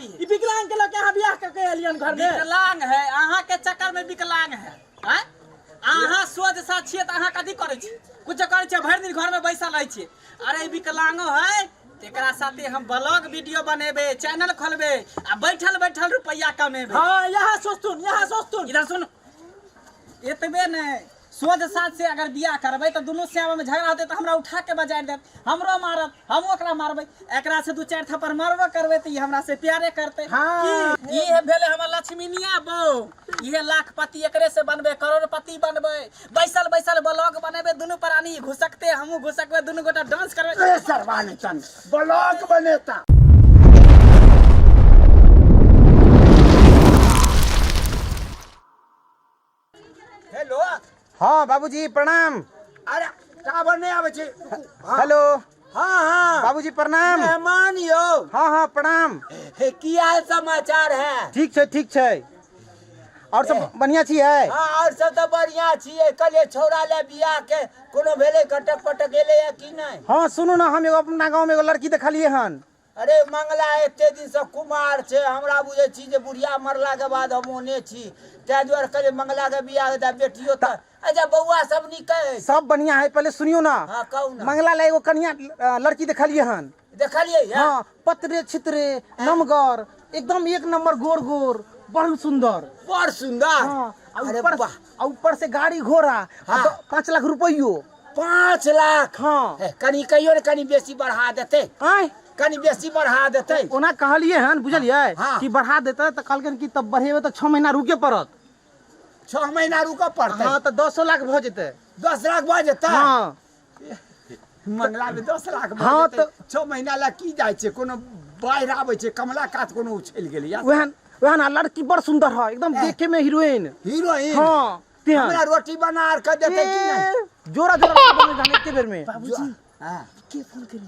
ई विकलांग के लके अहाँ बियाह क के एलियन घर में विकलांग है अहाँ के चक्कर में विकलांग है आँय? अहाँ सोझ सा छियै तऽ अहाँ कथी करै छी कुछो करै छियै भरि दिन घर में बैसल रहै छियै अरे ई विकलांगो है एकरा साथे हम ब्लॉग वीडियो बनेबे चैनल खोलबे आ बैठल बैठल रुपैया कमेबे हाँ यहाँ सोचतुन यहाँ सोचतुन इधर सुन एतबे ने सोझ साँझ से अगर बियाह करबै तऽ दुनू श्यामा में झगड़ा होतै तऽ हमरा उठा के बजारि देत हमरो मारत हमहूँ ओकरा मारबै एकरा से दू चारि थप्पड़ मारबो करबै तऽ ई हमरा से प्यारे करतै की ई हे भेलै हमर लक्ष्मीनिया बहू इहे लाखपति एकरे से बनबै करोड़पति बनबै बैसल बैसल ब्लॉग बनेबै दुनू प्राणी ई घुसकतै हमहूँ घुसकबै दुनू गोटा डांस करबै ए सरवानी चंद ब्लॉग बनेता हेलो हँ बाबूजी प्रणाम अरे टावर नहि आबै छै हँ, हेलो हँ हँ बाबूजी प्रणाम मेहमान यौ हँ हँ प्रणाम हे, की हाल समाचार है ठीक छै ठीक छै आओर सब बढ़िआँ छी है हँ आओर सब तऽ बढ़िया छियै कहलियै छौड़ा ले बियाह के कोनो भेलै कटक पटक एलै या कि नहि हँ सुनू ने हम एगो अपना गाँवमे एगो लड़की देखलियै हन अरे मंगला एते दिन सँ कुमार छै हमरा बुझै छी जे बुढ़िया मरला के बाद हम ओहने छी तै दुआरे कहलियै मंगला के बियाह के दा बेटियो त अच्छा बौआ सब नीक अछि सब बढ़िया है पहले सुनियो ना हाँ कहू ना मंगला ले एगो कन्या अ, लड़की देखलिए हन देखलियै है हाँ पतरे छितरे नमगर एकदम एक नंबर गोर गोर बड़ सुंदर बड़ सुंदर हाँ, आ अरे ऊपर- वाह आ ऊपर से गाड़ी घोड़ा आ हाँ। द- पाँच लाख रुपयो पाँच लाख हाँ। हे, कनी कहियो ने कनी बेसी बढ़ा देते आँय कनी बेसी बढ़ा देते ओना कहलिए हन बुझलिए हाँ। कि बढ़ा देते तऽ कहलकै कि तब बढ़ेबै तऽ छः महीना रुके पड़त छह महीना रुकऽ पड़तै हाँ तऽ दसो लाख भऽ जेतै दस लाख भऽ जेतै हाँ। मंगलामे दस लाख भऽ हँ, जेतै तऽ- छओ महीना लए की जाइ छै कोनो बाढ़ि आबै छै कमला कात कोनो उछलि गेलै या वएह वएह ने लड़की बड़ सुन्दर है एकदम देखे में हीरोइन हीरोइन हँ, तेहन। हमरा रोटी बना आर कऽ देतै कि नहि ए, जोरा जोरा लड़की बनै जाने एके बेर में बाबूजी हँ। के फोन करी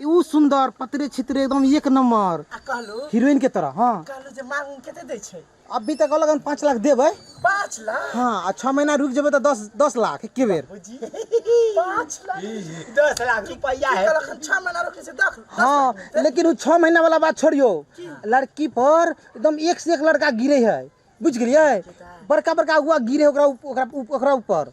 ऊ सुन्दर पतरे छितरे एकदम एक नम्बर आ कहलू हीरोइन के तरह हाँ कहलू जे मांग उंग केते दै छै अभी तक अलग हम पाँच लाख देबै पाँच लाख हाँ आ छः महीना रुक जेबै तऽ दस दस लाख एके बेर बुझी पाँच लाख दस लाख रुपया है कहलक हम छः महीना रुकै छै दस हाँ लेकिन उ छः महीना वाला बात छोड़ियो लड़की पर एकदम एक से एक लड़का गिरे है बुझ गेलियै बड़का बड़का अगुआ गिरे है ओकरा उप- ओकरा उप- ओकरा ऊपर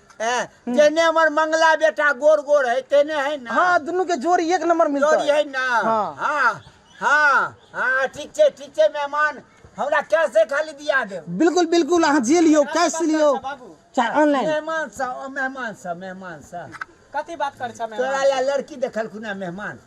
हैं जेने हमर मंगला बेटा गोड़ गोड़ है तेने है ना हाँ दुनू के जोड़ी एक नंबर मिलता जोड़ी है ना हाँ। हाँ हाँ हाँ ठीक छै ठीक छै मेहमान हमरा कैसे खाली दिया देब बिल्कुल बिल्कुल अहाँ जे लियो कैश लियो बाबू चाहे ऑनलाइन मेहमान सा ओ मेहमान सा मेहमान सा कथी बात करै छ तोरा मेहमान ला लड़की देखलखुन हैं मेहमान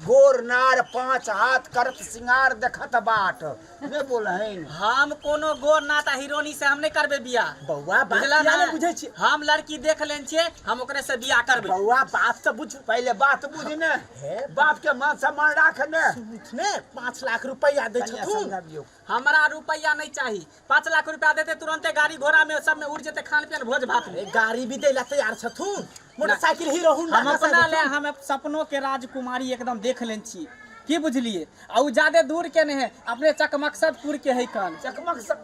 गोर नार पाँच हाथ करत सिंगार देखत बाट ने बोलहिन हम कोनो गोर नाथ आ हिरोनी से हम नहीं करबे बियाह बौआ बात बुझला किया ना? ने बुझै छी हम लड़की देख लेन छियै हम ओकरे से बियाह करबे बौआ बात तऽ बुझ पहिले बात बुझ ने हे बाप के मान सम्मान राख ने ने पाँच लाख रुपैआ दै कनिया छथुन समझाबियौ हमरा रुपैआ नहि चाही। पाँच लाख रुपैआ देतै तुरन्ते गाड़ी घोड़ा मे सब मे उड़ि जेतै खान पियन भोज भात मे। गाड़ी भी दै लए तैयार छथुन। मोटर साइकिल हीरो होंडा हम घसा अपना लए देथुन। हम सपनो के राजकुमारी एकदम देख लेने छी। की बुझलियै? आ ओ जादे दूर के नहि है। अपने चकमकसदपुर के है कन। चकमकसद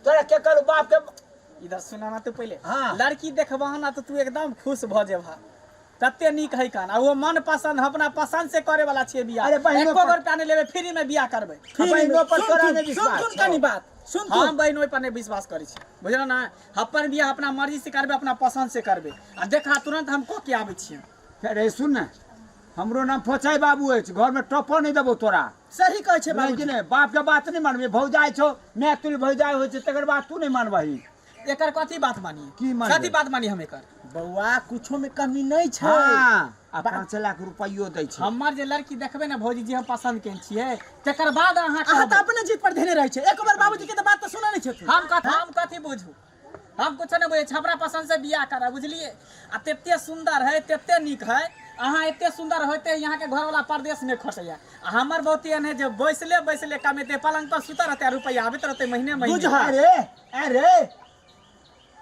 तोरा केकर बाप के। इधर सुनऽ न तू पहिले। हँ। लड़की देखबहन न तऽ तू एकदम खुश भऽ जेबहऽ। कते नीक है कान आ वो मन पसंद हम अपना पसंद से करे वाला छिए बियाह अरे बहिनो एको पर- रुपया नहीं लेबे फ्री में बियाह करबै आ बहिनो पर तोरा नहि सुन विश्वास सुन छौ। कनी बात सुन तू हम बहन ओहि पर नहि विश्वास करै छी बुझल ना अपन बियाह अपना मर्जी से करबै अपना पसंद से करबै आ देखा तुरंत हम कऽ के आबै छियै अरे सुन ने हमरो नाम फोचाइ बाबू अछि घरमे टपो नहि देबो तोरा सही कहै छै बुझलियै कि बाबूजी नहि बापके बात नहि मानबै भौजाइ छौ माय तुल भौजाइ होइ छै तकर बाद तू नहि मानबही एकर कथी बात मानी की मानबै? कथी बात मानी हम एकर बौआ कुछो में कमी नहीं छै हाँ। आ पाँच लाख रुपयो दै छै हमर जे लड़की देखबे ने भौजी जे हम पसंद केने छियै तकर बाद अहाँ अहाँ तऽ कहबै अपने जीत पर धेने रहै छै एक बार बाबूजी के तऽ बात तऽ सुनै नहि छथिन हम कथी हम कथी बुझू हम कुछो नहि बुझै छी हमरा पसंद से बियाह करब बुझलियै आ तते सुन्दर है तते नीक है अहाँ एते सुन्दर होते यहाँ के घरवाला परदेश में खटैया आ हमर बहुत एहन है जे बैसले बैसले कमेते पलंग पर सुतल रहते आ रुपैया आबैत रहते महीने महीने बुझह रे अरे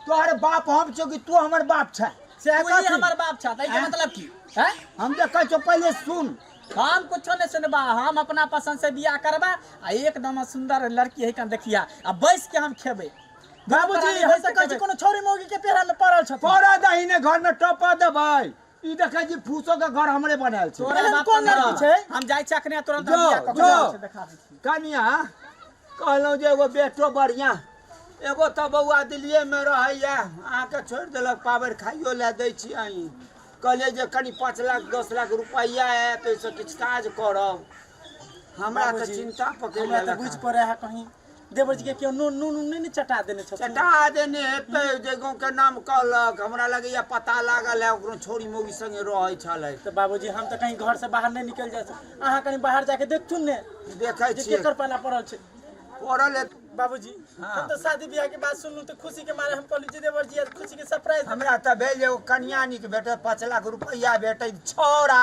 तोहर बाप हम छौ कि तू हमर बाप छै से तू ही हमर बाप छा तै के आँय? मतलब की हैं हम जे कहै छौ पहिले सुन हम कुछो नहीं सुनबा हम अपना पसंद से बियाह करबा आ एकदम सुंदर लड़की है कन देखिया आ बैस के हम खेबे बाबूजी हम तऽ कहै छी कोनो छौरी मौगी के पेरा में पड़ल छथिन पौड़ा दही ने घर में टपा देबै ई देखै छी फूसो के घर हमरे बनायल छै तोरा बाप कोन लड़की छै हम जाइ छी अखने तुरंत जो, बियाह कऽ के जो। जाइ छी, देखा दै छी कनिया कहलहुँ जे एगो बेटो बढ़िया एगो तऽ बौआ दिल्लीए में रहैया अहाँके छोड़ि देलक पावर खाइयो लए दै छी अहीं कहलियै जे कनि पाँच लाख दस लाख रुपैआ आयत ओहिसँ किछु काज करब हमरा तऽ चिंता पकड़ि हमरा तऽ लेलक बुझि हँ। पड़े है कहीं देवर जी के केओ नून नून नून नहि ने चटा देने छथिन चटा देने हेतै जे गाँव के नाम कहलक हमरा लगैया पता लागल है ओकरो छोरी मौगी संगे रहै छलै तऽ बाबूजी हम तऽ कहीं घर से बाहर नहि निकल जाइ छी अहाँ कहीं बाहर जाके देखथुन ने देखै छी केकर पाला पड़ल छै पड़ल है बाबूजी हाँ। हम तो शादी ब्याह के बात सुनलू तो खुशी के मारे हम कहलू जी देवर जी खुशी के सरप्राइज हमरा तऽ भेल जे ओ कन्या निक भेटत पाँच लाख रुपैआ भेटै छौड़ा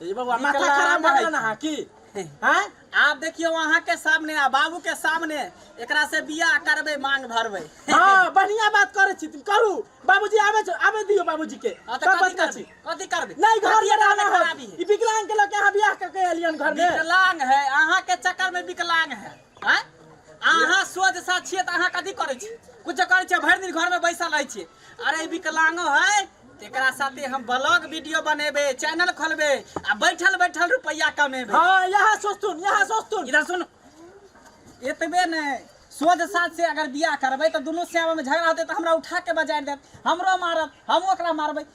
ये बबुआ माथा निकला खराब ना भऽ गेल है। ना अहाँ की हैं आब देखियौ अहाँ के सामने आ बाबू के सामने एकरा से बियाह करबै मांग भरबै हाँ बढ़िया बात करे छी तुम करू बाबूजी आवे छो आवे दियो बाबूजी के हाँ, तऽ सब कथी बच्चा करबै छी कथी करबै नहीं घर कथी में रहना करबै है खराबी है ई विकलांग के लगे यहाँ बियाह करके एलियन घर में विकलांग है अहाँ के चक्कर में विकलांग है आँय अहाँ सोच साथ छियै तऽ अहाँ कथी करै छी कुछ करै छियै भरि दिन घरमे बैसल रहै छियै अरे विकलांगो है एकरा साथे हम ब्लॉग वीडियो बनेबे चैनल खोलबे आ बैठल बैठल रुपैया कमेबे हाँ यहाँ सोचतुन यहाँ सोचतुन इधर सुन एतबे ने सोझ साथ से अगर बियाह करबै तऽ दुनू श्याममे झगड़ा होतै तऽ हमरा उठा के बजारि देत हमरो मारत हमहूँ ओकरा मारबै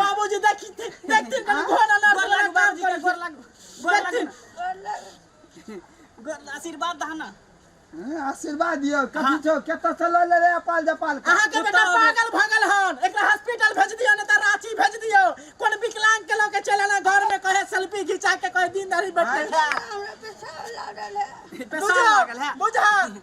बाबूजी देखी देखथिन कभी घर अनार गोर वाला लागू, काम बाबूजी के करथिन। गोर लागू, गोर लागू। देखथिन गोर लागू, आशीर्वाद दहा ना हैं, आशीर्वाद दियो कथी छौ केतऽ से लऽ ले रे अपाल जपाल के अहाँ के बेटा कुत्ता पागल भऽ गेल हन एकरा हॉस्पिटल भेज दियो ने तऽ रांची भेज दियो कोन विकलांग के लऽ के चल आना घर में कहे सेल्फी घिचा के कहे दिन दाढ़ी बैठे पेशाब लागल है बुझा बुझा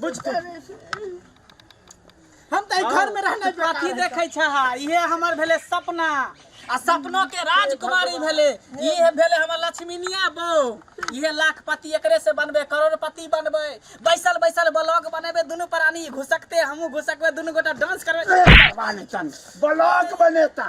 बुझ के हम तऽ एहि घर में रहना तू कथी देखै छह इहे हमर भेलै सपना आ सपनो के राजकुमारी भेलै इहे भेलै हमर लक्ष्मीनिया बहू इहे लाखपति एकरे से बनबे करोड़पति बनबे बैसल बैसल ब्लॉग बनेबे दुनू प्राणी घुसकते हमहूँ घुसकबे दुनू गोटा डांस करबे ब्लॉक बनेता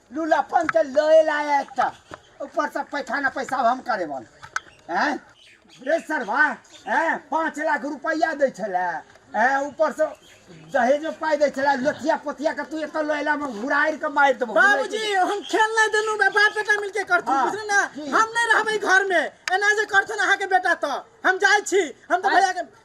लुलापन के लय लाया एकटा ऊपर से पैखाना पैसा हम करे बन हैं रे सरवा हैं पाँच लाख रुपया दै छलै हैं ऊपर से दहेज में पाइ दै छलै लोथिया पोथिया के तू एतऽ लैला में घुराइर के मारि देबो बाबूजी हम खेल नहीं देनु बे बाप बेटा मिलके करथु हाँ, बुझली ना जी। हम नहीं रहबे घर में एना जे करथु अहाँ के बेटा तो हम जाय छी हम तो हाँ। भैया के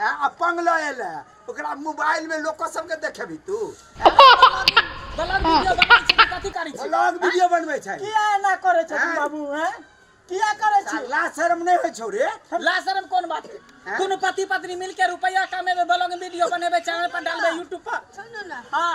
हैं, आ पंगला एले है। ओकरा मोबाइल में लोग सब के देखेबी तू ब्लॉग वीडियो बनाबै छी कि कथी करै छी ब्लॉग वीडियो बनबै छै किया एना करै छथिन हैं? बाबू हैं किया करै छी ला शर्म नहि होइ छौ रे लाशरम कोन बात है? हैं? दुनू पति पत्नी मिलके रुपया कमेबै ब्लॉग वीडियो बनेबै चैनल पर डालबै यूट्यूब पर सुनू ने हाँ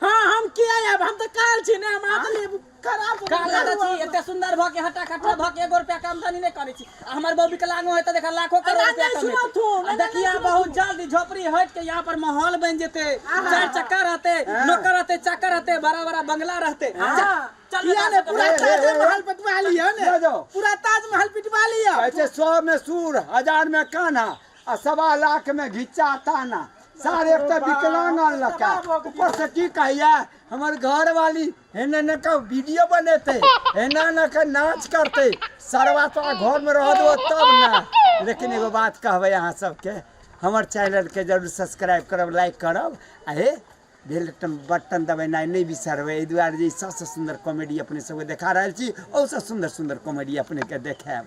हाँ हम किया आयब हम तऽ काल छी ने हम अहाँके लिए खराब हो काल गेल। छी एते सुंदर भऽ के हटा कटा भऽ के एगो रुपया के आमदनी नहि करै छी आ हमर बहू विकलांगो है तऽ देखा लाखो करोड़ एना रुपया नहि कमेतै। सुनत हो, आ एना देखिया नहि सुनत बहुत हो। जल्दी झोपड़ी हट के यहाँ पर माहौल बन जेते चार चक्का रहते नौकर रहते चाकर रहते बड़ा बड़ा बंगला रहते चल किया ने पूरा ताजमहल पिटवा लिया ने ले जाओ। पूरा ताजमहल पिटवा लिया ऐसे सौ में सूर हजार में कान्हा आ सवा लाख मे घिच्चा ताना सार एक त विकलांग अनलक है ऊपर से की कहैया हमर घर वाली हेने न क वीडियो बनेते हेना न क नाच करते सरवा तो घर में रह दो तब ना लेकिन एगो बात कहबे अहाँ सबके हमर चैनल के जरूर सब्सक्राइब करब लाइक करब आ हे बेल बटन दबेनाइ नहि बिसरबै एहि दुआरे जे सबसँ सुन्दर कॉमेडी अपने सबके देखा रहल छी ओहिसँ सुन्दर सुन्दर कॉमेडी अपनेके देखायब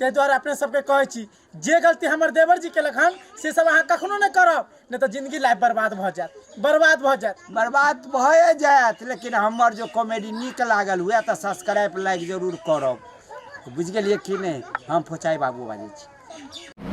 ताहि दुआरे अपने सबके कहै छी जे गलती हमर देवर जी केलक हन से सब अहाँ कखनो नहि करब नहि तऽ जिंदगी लाइफ बर्बाद भऽ जायत बर्बाद भऽ जायत बर्बाद भए जायत लेकिन हमर जो कॉमेडी नीक लागल हुए तऽ सब्सक्राइब लाइक जरूर करब बुझि गेलियै कि नहि हम फोचाइ बाबू बाजै छी